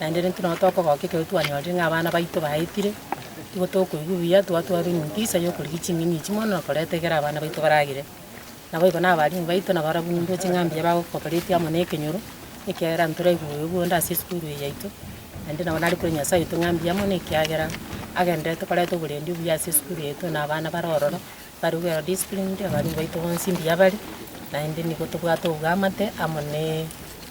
Naende rende intwe nabo tokogoka ekero twanyorire ng'a abana baito baetire, nigo tokoigwa buya twatwara enyugisa y'okorigia ching'eni echi mono na koreta ekero abana baito baragere. Naboigo na abalimu baito nabarabwo ng'umbe ching'a mbuya bagokoberetie amo nekenyoro, ekiagera ntoraigwe bobe bw'onde ase esukuru eye yaito, naende nabo nare kore Nyasae oito ng'a mbuya mono ekiagera agenderete koreta oborendi obuya ase esukuru yaito na abana bare ororo, bare well disciplined, abalimu baito bonsi mbuya bare, naende nigo tobwate oboamate amo ne.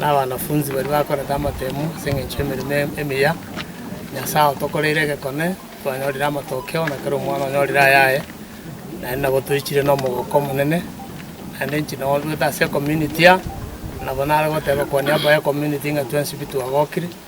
na abanafunsi baria bakorete amatemo ase engencho y'emeremo emiya, Nyasae otokoreire egekone, twanyorire amatokeo, na kera omwana onyorire ayaye, naende nabo toichire nomogoko omonene, naende inche nabo ntoete ase ecommunity aa, nabo nare goteba kwania abaya ecommunity ng'a twensi pi twagokire.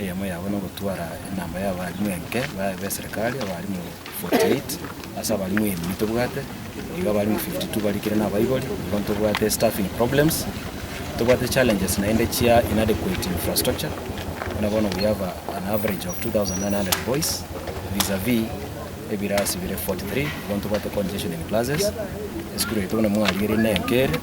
Eyemo yabo nogotwara enamba y'abarimu enke baye b'eserekari, abarimu 48 ase abarimu emi tobwate, nigo abarimu 52 barikire nabaibori, nigo ntobwate staffing problems, tobwate challenges naende chia inadequate infrastructure, buna bono we have an average of 2,900 boys vis-a-vis ebirasi bire 43, nigo ntobwate congestion in classes, esukuru yaito buna mwarigereiri nenke ere.